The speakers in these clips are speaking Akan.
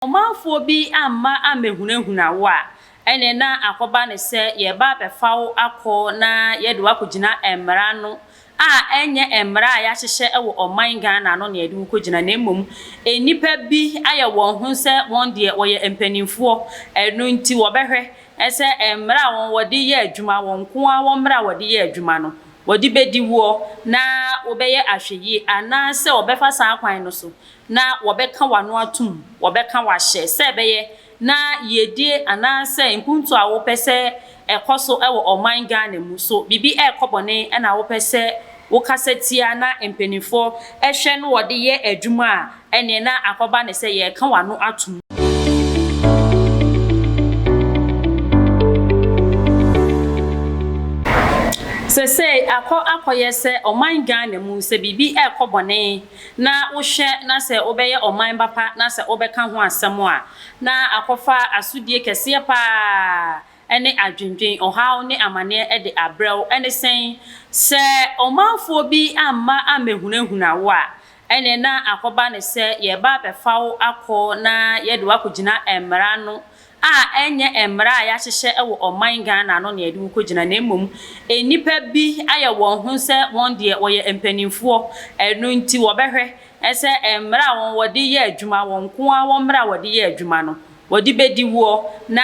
ɔmanfoɔ bi amma ammɛhunahuna wo a, ɛnneɛ na akɔba no sɛ yɛreba abɛfa wo akɔ na yɛde wo akɔgyina mmara no a ɛnyɛ mmara a yɛahyehyɛ wɔ ɔman Ghana ano na yɛde wo kɔgyina na mmom nnipa bi ayɛ wɔn ho sɛ wɔn deɛ wɔyɛ mpanimfoɔ ɛno nti wɔbɛhwɛ sɛ mmara a wɔn wɔde yɛ adwuma wɔn nko ara wɔn mmara a wɔde yɛ adwuma no wɔde bɛdi woɔ na wobɛyɛ ahwɛyie anaasɛ wɔbɛfa saa kwan no so Na wɔbɛka w'ano atom, wɔbɛka wo ahyɛ, sɛ ɛbɛyɛ na yiedie anaasɛ nkuntu a wopɛ sɛ ɛkɔ so wɔ ɔman Ghana mu. So biribi rekɔ bɔne na wopɛ sɛ wokasa tia na mpaninfoɔ hwɛ na wɔde yɛ adwuma a, ɛneɛ na akɔba ne sɛ yɛreka w'ano atom. Sesei akɔ akɔyɛ sɛ ɔman Ghana mu sɛ biribi rekɔ bɔne na wohwɛ na sɛ wobɛyɛ ɔman ba pa na sɛ wobɛka ho asɛm a, na akɔfa asodie kɛseɛ pa ara ne adwendwen, ɔhaw ne amaneɛ de abrɛ wo. Ɛne sɛn? Sɛ ɔmanfoɔ bi amma ammɛhunahuna wo a, ɛnneɛ na akɔba no sɛ yɛreba abɛfa wo akɔ na yɛde wo akɔgyina mmara no a ɛnyɛ mmara a yɛahyehyɛ wɔ ɔman Ghana ano na yɛde wo kɔgyina na mmom nnipa bi ayɛ wɔn ho sɛ wɔn deɛ wɔyɛ mpanimfoɔ ɛno nti wɔbɛhwɛ sɛ mmara a wɔn wɔde yɛ adwuma wɔn nko ara wɔn mmara a wɔde yɛ adwuma no wɔde bɛdi woɔ na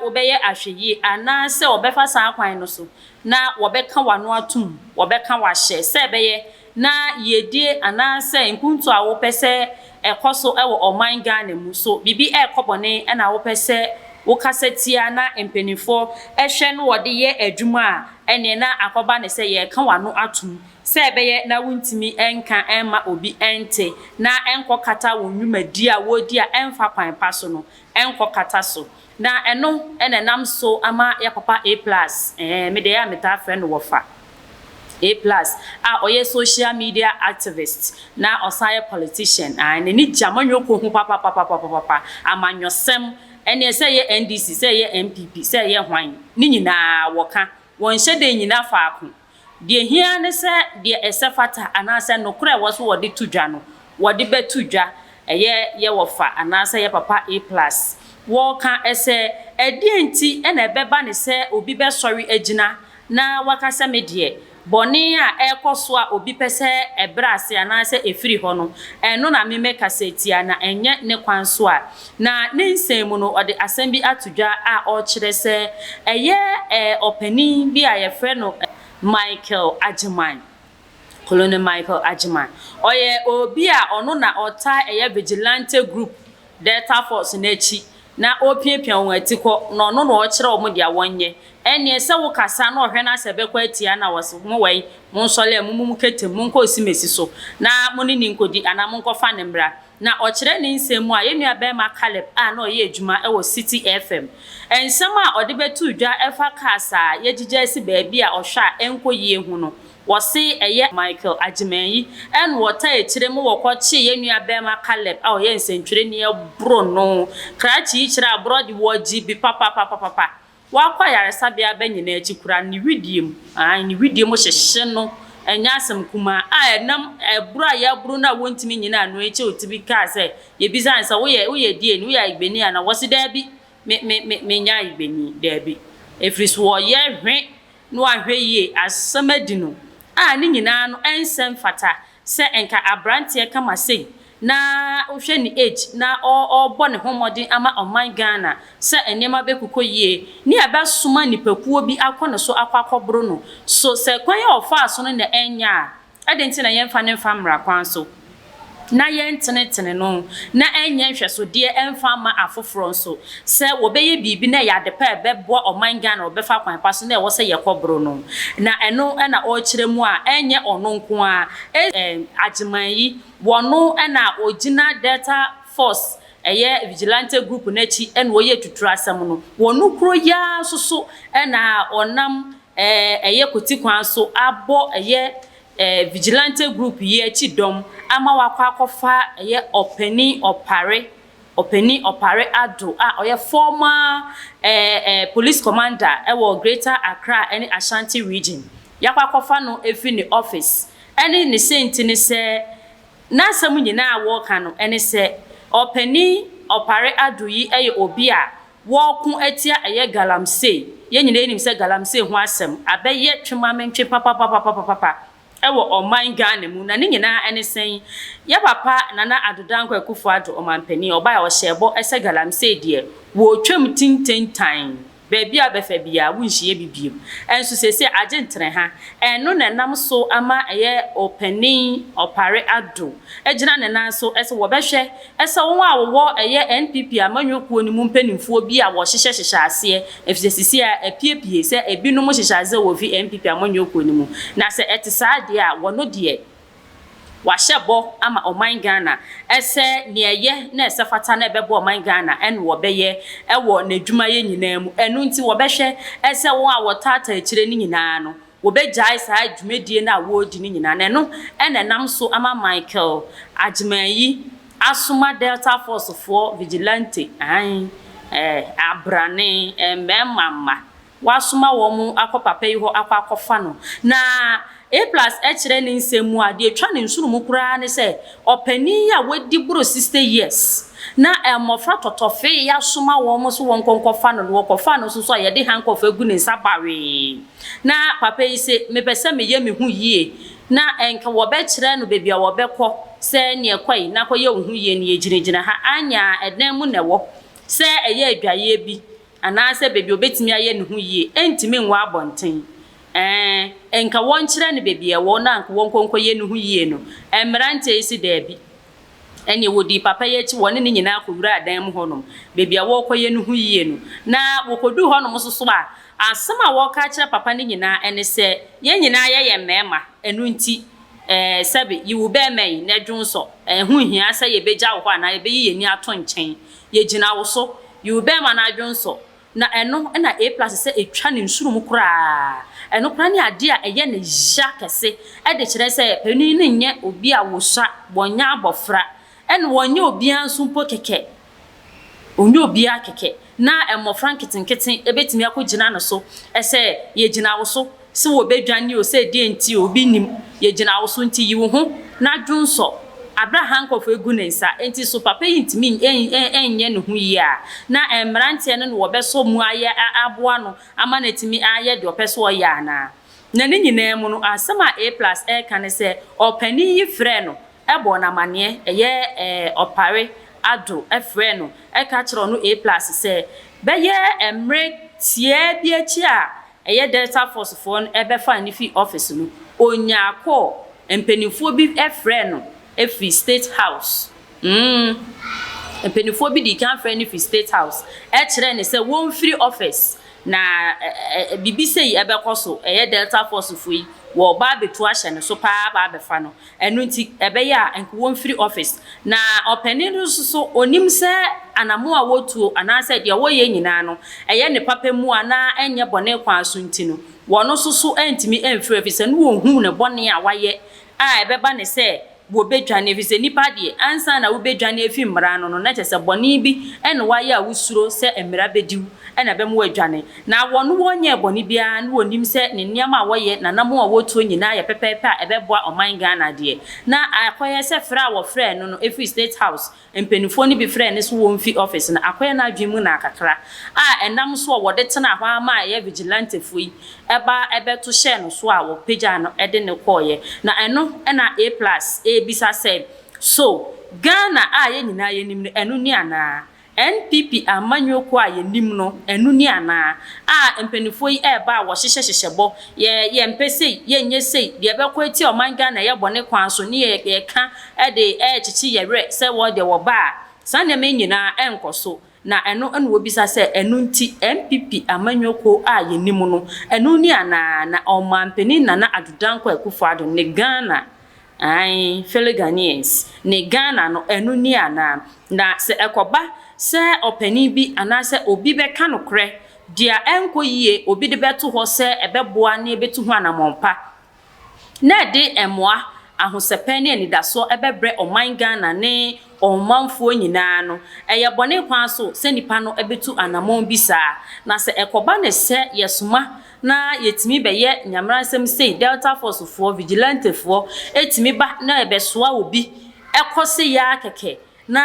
wobɛyɛ ahwɛyie anaa sɛ wɔbɛfa saa kwan no so na wɔbɛka w'ano atom wɔbɛka w'ahyɛ sɛ ɛbɛyɛ na yiedie anaasɛ nkuntu a wopɛ sɛ ɛkɔ so wɔ ɔman Ghana mu, so biribi rekɔ bɔne na wopɛ sɛ wokasa tia na mpaninfoɔ hwɛ na wɔde yɛ adwuma a, ɛneɛ na akɔba no sɛ yɛreka w'ano atom sɛ ɛbɛyɛ na wontumi nka mma obi nte na nkɔkata wo nnwumadie a woredi a ɛmfa kwan pa so no nkɔkata so. Na ɛno na ɛnam so ama yɛn papa A plus, ɛɛ, me deɛ ɛyɛ a metaa frɛ no Wɔfa A plus, a ɔyɛ social media activist na ɔsan yɛ politician, ae, n'ani gye amanyɔkuo ho papapapapapapa, amanyɔsɛm, ɛnneɛ sɛ ɛyɛ NDC, sɛ ɛyɛ NPP, sɛ ɛyɛ hwan, ne nyinaa wɔka, wɔnhyɛ da nnyina faako. Deɛ ɛhia ara ne sɛ deɛ ɛsɛ fata anaasɛ nokorɛ a ɛwɔ so wɔde to dwa no, wɔde bɛto dwa. Ɛyɛ yɛ wɔfa anaasɛ yɛ papa A-plus. Wɔka sɛ, Ɛdeɛn nti na ɛbɛba no sɛ obi bɛsɔre agyina na waka sɛ me deɛ, bɔne a ɛrekɔ so a obi pɛ sɛ ɛbrɛ ase anaasɛ ɛfiri hɔ no, ɛno na me mɛkasa atia, na ɛnyɛ ne kwan so a Na ne nsɛm mu no, ɔde asɛm bi ato dwa a ɔrekyerɛ sɛ ɛyɛ ɔpanin bi a wɔfrɛ no Michael Agyeman, Colonel Michael Agyeman. Ɔyɛ obi a ɔno na ɔtaa yɛ vigilante group Delta Force no akyi na ɔrepiapia wɔn atikɔ, na ɔno na ɔrekyerɛ wɔn deɛ wɔnyɛ. Ɛnneɛ sɛ wokasa na ɔhwɛ no ara sɛ ɛbɛkɔ atia no a, ɔse, Mo wɛn, monsɔre a, mommu mo kete mu, monkɔ Osimesi so na mo ne no nkɔdi anaa monkɔfa no mmra. na ɔkyerɛ ne nsɛm mu a yɛn nuabarima Caleb a na ɔyɛ adwuma wɔ Citi FM nsɛm a ɔde bɛtoo dwa ɛfa cars a yɛagyigya asi baabi a ɔhwɛ a ɛnkɔ yie ho no, wɔse ɛyɛ Michael Agyeman-Yi ɛna ɔtaa akyire mu wɔkɔkyee yɛn nuabarima Caleb a ɔyɛ nsɛntwerɛni ɛboro no krakye yi kyerɛ aborɔ de wɔgye bi papapapapapa Wakɔ ayaresabea bɛ nyinaa akyi koraa no, ne wedeɛ mu, aane, ne wedeɛ mu hyehye no, ɛnyɛ asɛm kumaa, a ɛnam aburo a yɛaburo no a wɔntumi nnyina ano akyi a ɔtumi kaa sɛ, yɛbisaa no sɛ, woyɛ, woyɛ DNA, woyɛ Ayigbeni anaa? Wɔse, daabi, me, me, me, menyɛ Ayigbeni, daabi. Ɛfiri so ɔyɛ hwe na wahwɛ yie, asɛm adi no, a ne nyinaa no ɛnsɛ mfata. Sɛ nka abranteɛ kama sei na wohwɛ ne age na ɔɔbɔ ne ho mmɔden ama ɔman Ghana sɛ nneɛma bɛkukɔ yie ne ɛbɛsoma nipakuo bi akɔ ne so akɔ akɔboro no so sɛ kwan a ɔfaa so no na ɛnyɛ a ɛde nti na yɛmfa no mfa mmra kwan so na yɛntenetene no na ɛnyɛ nhwɛsodeɛ mfa mma afoforɔ nso. sɛ wɔbɛyɛ biribi na ɛyɛ adepa a ɛbɛboa ɔman Ghana a wɔbɛfa kwan pa so na ɛwɔ sɛ yɛkɔ boro no. Na ɛno na ɔrekyerɛ mu a ɛnyɛ ɔno nko ara, ɛyɛ Agyeman yi, wɔno na ɔgyina Delta Force ɛyɛ Vigilante Group no akyi na ɔyɛ atuturo asɛm no. Wɔno kuro yi ara nso so na ɔnam ɛyɛ kwati kwan so abɔ ɛyɛ Vigilante Group yi akyi dɔm ama wɔakɔ akɔfa ɛyɛ Ɔpanin Opare Ɔpanin Opare Addo a ɔyɛ former ɛɛ police commander wɔ Greater Accra ne Ashanti Region, yɛakɔ akɔfa no afiri ne office. Ɛne ne senti ne sɛ, n'asɛm nyinaa a wɔreka no ne sɛ, Ɔpanin Opare Addo yi yɛ obi a wɔreko atia ɛyɛ Galamsey. Yɛn nyinaa nim sɛ Galamsey ho asɛm abɛyɛ twemamenntwe papapapapapa. wɔ ɔman Ghana mu na ne nyinaa ne sɛn? Yɛ papa Nana Addo Dankwa Akufo Addo Ɔmanpanin a ɔbae a ɔhyɛɛ bɔ sɛ Galamsey deɛ wɔretwam tintentan baabi a bɛfa biara wonhyiɛ bi bio nso seesei agye ntereha ɛno na ɛnam so ama ɛyɛ Opanin Opare Addo agyina ne nan so sɛ wɔbɛhwɛ Ɛsɛ wɔn a wɔwɔ ɛyɛ NPP amanyɔ kuo no mu mpaninfoɔ bi a wɔhyehyɛ hyehyɛ aseɛ efisɛ sisi a apue pie sɛ ebi nom hyehyɛ aseɛ wɔ fi NPP amanyɔ kuo no mu na sɛ ɛte saa deɛ a wɔno deɛ wahyɛ bɔ ama ɔman Ghana ɛsɛ neɛ ɛyɛ na ɛsɛ fata na ɛbɛboa ɔman Ghana ɛne wɔbɛyɛ ɛwɔ nadwuma yɛ nyinaa mu ɛno nti wɔbɛhwɛ ɛsɛ wɔn a wɔtaataa akyire no nyinaa no wɔbɛgyae saa dwumadie no a wɔredi no nyinaa na ɛno na ɛnam so ama Michael Agyemangyi asoma Delta Force foɔ vigilante, aane, eh, abrane, eh, mmarima mma, wɔasoma wɔn akɔ papa yi hɔ akɔ akɔfa no. Na A plus kyerɛ ne nsɛm mu a, deɛ ɛtwa ne nsono mu koraa ne sɛ, ɔpanin yi a wadi boro 60 years na mmɔfra tɔtɔfee asoma wɔn so wɔnkɔ nkɔfa no, na wɔkɔfaa no nso so a, yɛde handcuff agu ne nsa bawee. Na papa yi se, Mepɛ sɛ meyɛ me ho yie. Na nka wɔbɛkyerɛ no baabi a wɔbɛkɔ, sɛ, Neɛ kɔ yi na kɔyɛ wo ho yie, neɛ gyinagyina ha. Anyɛ a, ɛdan mu na ɛwɔ. Sɛ ɛyɛ adwaeɛ bi, anaasɛ baabi a ɔbɛtumi ayɛ ne ho yie, ɛntumi nwɔ abɔnten. Ɛɛ, nka wɔnkyerɛ no baabi a ɛwɔ na nka wɔnkɔ nkɔyɛ ne ho yie no. Mmeranteɛ yi se, Daabi. Ɛnneɛ wɔdii papa yi akyi, wɔne no nyinaa kɔwuraa dan mu hɔnom, baabi a wɔrekɔyɛ no ho yie no. Na wɔkɔduu hɔnom nso so a, asɛm a wɔreka akyerɛ papa no nyinaa ne sɛ, Yɛn nyinaa yɛyɛ mmarima, ɛno nti, sɛbe, yi wo barima yi, na dwo nsɔ. Ɛho nhia sɛ yɛbɛgya wo hɔ anaa yɛbɛyi yɛn ani ato nkyɛn. Yɛgyina wo so. Yi wo barima na dwo nsɔ. Na ɛno na A-plus sɛ etwa ne nsuru mu koraa. Ɛno koraa ne ade a ɛyɛ no ya kɛse de kyerɛ sɛ panin no nyɛ obi a wɔsua, wɔnyɛ abɔfra, ɛna wɔnyɛ obiara nso mpo kɛkɛ. Ɔnyɛ obiara kɛkɛ, na mmɔfra nketenkete betumi akɔgyina no so sɛ, Yɛgyina wo so, Se wɔbɛdwane o, se deɛn nti o, obi nnim, Yɛgyina wo so nti yi wo ho na dwonsɔ, Aberɛ a ha nkorɔfoɔ agu ne nsa nti so papa yi ntumi nnyɛ ne ho yie a, na mmeranteɛ no na wɔbɛsɔ mu ayɛ aboa no ama no atumi ayɛ deɛ ɔpɛ sɛ ɔyɛ anaa? Na ne nyinaa mu no, asɛm a A-Plus reka ne sɛ, ɔpanin yi frɛɛ no bɔɔ no amanneɛ, ɛyɛ ɛɛ ɔpare, Addo, frɛɛ no, ka kyerɛɛ no A plus sɛ, bɛyɛ mmere tiaa bi akyi a ɛyɛ Delta Force foɔ no bɛfaa no fii office no, ɔnyaa call, mpaninfoɔ bi frɛɛ no firi State House, mm, mpaninfoɔ bi dii kan frɛɛ no firi State House, kyerɛɛ no sɛ wɔmfiri office, na ɛ ɛ ɛ biribi sei bɛkɔ so, ɛyɛ Delta Force foɔ yi wɔreba abɛtu ahyɛ ne so paa aba abɛfa no. Ɛno nti, ɛbɛyɛ a nka wɔmfiri ɔfese. Na ɔpanin no nso so, ɔnim sɛ anammɔn a wɔtuo anaasɛ deɛ wɔyɛ nyinaa no, ɛyɛ ne papa mu a na ɛnyɛ bɔne kwan so nti no, wɔn nso so antumi amfiri ɛfiri sɛ na wɔhunu ne bɔne a wayɛ a ɛbɛba ne sɛ wɔbɛdwane ɛfiri sɛ nnipa deɛ, ansa na wobɛdwane afiri mmara ano no, na kyerɛ sɛ bɔne bi na wayɛ a wosuro sɛ mmara bɛdi wo na ɛbɛma woadwane. Na wɔn wɔnyɛɛ bɔne biara ne wɔnim sɛ ne nneɛma a wɔyɛ nananom a wɔtuo nyinaa yɛ pɛpɛɛpɛ a ɛbɛboa ɔman Ghana deɛ. Na akɔyɛ sɛ frɛ a wɔfrɛɛ no no ɛfiri State House mpaninfoɔ no bi frɛɛ no so wɔmfi office no akɔyɛ n'adwene mu naa kakra a ɛnam so a wɔde tenaa hɔ ara maa ɛyɛ vigilantefoɔ yi ba bɛto hyɛɛ no so a wɔpagyaa no de no kɔeɛ na ɛno na A plus ɛrebisa sɛ so Ghana a yɛn nyinaa yɛnim no ɛno ni anaa? NPP amanyɔ kuo a yɛnim no, ɛno ni anaa? A mpaninfoɔ yi ɛreba a wɔhyehyɛ hyehyɛ bɔ, yɛ yɛ mpɛ sei, yɛ nyɛ sei, deɛ ɛbɛkɔ atia ɔman Ghana ɛyɛ bɔne kwan so ne yɛ yɛ ka ɛde ɛrekyekye yɛ werɛ sɛ wɔn deɛ wɔba a saa nneɛma yi nyinaa ɛrenkɔ so. Na ɛno na wɔbisa sɛ ɛno nti NPP amanyɔ kuo a yɛnim no, ɛno ni anaa? Na Ɔmanpanin Nana Addo Dankwa Akufo-Addo ne Ghana Aane, fellow Ghanaians, ne Ghana no, ɛno nie anaa? Na sɛ ɛkɔba sɛ ɔpanin bi anaasɛ obi bɛka nokorɛ, deɛ a ɛnkɔ yie, obi de bɛto hɔ sɛ ɛbɛboa na yɛbɛtu ho anammɔn pa, na ɛde mmoa, ahosɛpɛ ne anidasoɔ ɛbɛbrɛ ɔman Ghana ne ɔmanfoɔ nyina ara no, ɛyɛ bɔne kwan so sɛ nipa no bɛtu anammɔn bi saa. Na sɛ ɛkɔba no sɛ yɛsoma. Na yɛtumi bɛyɛ Nyameransɛm sei, Delta Force foɔ, Vigilante foɔ, ɛtumi ba na ɛbɛsoa obi kɔ se yaa kɛkɛ na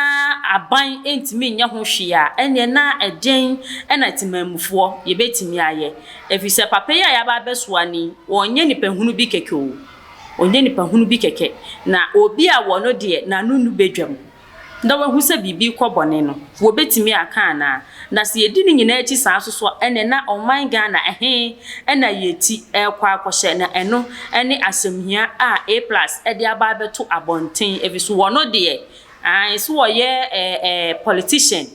aban ntumi nyɛ ho hwee a, ɛnneɛ na ɛdeɛn na Temanmufoɔ yɛbɛtumi ayɛ? Ɛfiri sɛ papa yi a yɛaba abɛsoa no yi, ɔnyɛ nipa hunu bi kɛkɛ o, ɔnyɛ nipa hunu bi kɛkɛ, na obi a wɔ no deɛ, n'ano nnu badwam. na wahu sɛ biribi rekɔ bɔne no, wɔbɛtumi aka anaa? Na sɛ yɛdi ne nyinaa akyi saa nso so a, ɛnneɛ na ɔman Ghana ɛhe na yɛti rekɔ akɔhyɛ? Na ɛno ne asɛmhia a A plus de aba abɛto abɔnten, ɛfiri so wɔn deɛ, aane, sɛ wɔyɛ politician,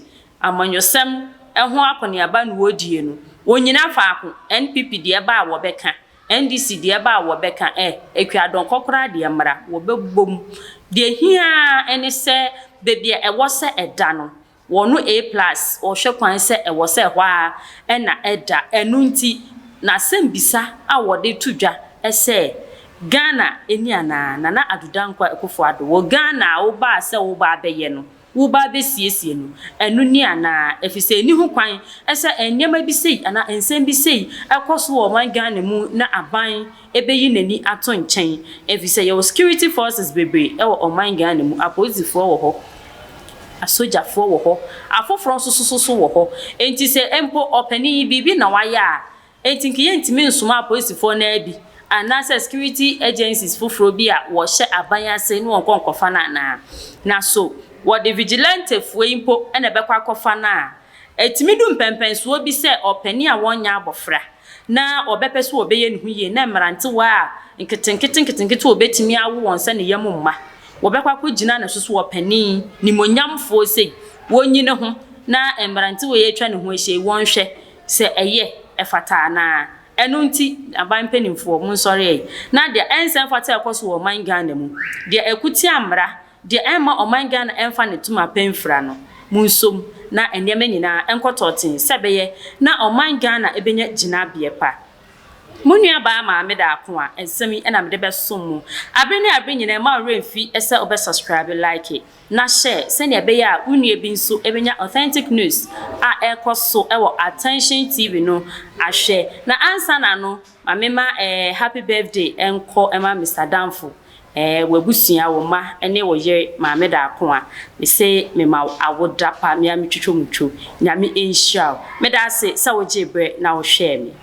amanyɔsɛm ho akɔneaba na wɔredie no, wɔnnyina faako, NPP deɛ ɛba a wɔbɛka, NDC deɛ ɛba a wɔbɛka eh, Akuadon kɔkoraa deɛ mmra, wɔbɛbom. Deɛ ɛhia ara ne sɛ baabi a ɛwɔ sɛ ɛda no, wɔno A plus wɔhwɛ kwan sɛ ɛwɔ sɛ ɛhɔ ara na ɛda. Ɛno nti na asɛmbisa a wɔde to dwa sɛ Ghana ni anaa? Nana Addo Dankwa Akufo-Addo, wɔ Ghana a wobaa sɛ woreba abɛyɛ no, Wo ba besiesie no. Ɛno ni anaa? Efisɛ enni ho kwan sɛ nneɛma bi sei anaa nsɛm bi sei kɔ so wɔ ɔman Ghana mu na aban beyi n'ani ato nkyɛn, efisɛ yɛwɔ security forces bebree wɔ ɔman Ghana mu, apolisifoɔ wɔ hɔ, asogyafoɔ wɔ hɔ, afoforɔ nso so so wɔ hɔ. Enti sɛ mpo ɔpanin yi biribi na wayɛ a, Enti nka yɛntumi nsomaa apolisifoɔ no ara bi anaasɛ security agencies foforɔ bi a wɔhyɛ aban ase ne wɔn nkɔ nkɔfa no anaa? Na so wɔde vigilantefoɔ yi mpo na ɛbɛkɔ akɔfa no a? Ɛtumi du mpɛnpɛnsoɔ bi sɛ ɔpanin a wanyɛ abɔfra na ɔbɛpɛ sɛ ɔbɛyɛ ne ho yie na mmerantewa a nketenkete nketenkete a ɔbɛtumi awo wɔn sɛ ne yam mma, wɔbɛkɔ akɔgyina no so sɛ ɔpanin nimuonyamfoɔ sei, wɔnyi ne ho na mmerantewa yi atwa ne ho ahyia yi, wɔnhwɛ sɛ ɛyɛ, ɛfata anaa. Ɛno nti, aban mpaninfoɔ, monsɔre ɛ, na deɛ ɛnsɛ mfata a ɛkɔ so wɔ ɔman Ghana mu, deɛ ɛko tia mmara, deɛ ɛmma ɔman Ghana ɛmfa ne toma pa mfira no, monsom na nneɛma nyinaa nkɔ tɔɔtee sɛ ɛbɛyɛ na ɔman Ghana ɛbɛnya gyinabeɛ pa. Mo nuabaa Maame Daako a nsɛm yi na mede bɛsom mo abere ne abere nyinaa mma wo werɛ mfi sɛ wobɛ subscribe, like, na hyɛ sɛnea ɛbɛyɛ a wo nua bi nso bɛnya Authentic News a ɛrekɔ so wɔ Attention TV no ahwɛ. Na ansa na no, ma memma ɛɛ Happy Birthday nkɔ mma Mister Danfo, ɛɛ w'abusua, wo mma ne wo yere Maame Darkoa. Mese mema wo awoda pa, me ara metwitwa mu twom. Nyame nhyira wo. Meda ase sɛ wogyee berɛ na wohwɛɛ me.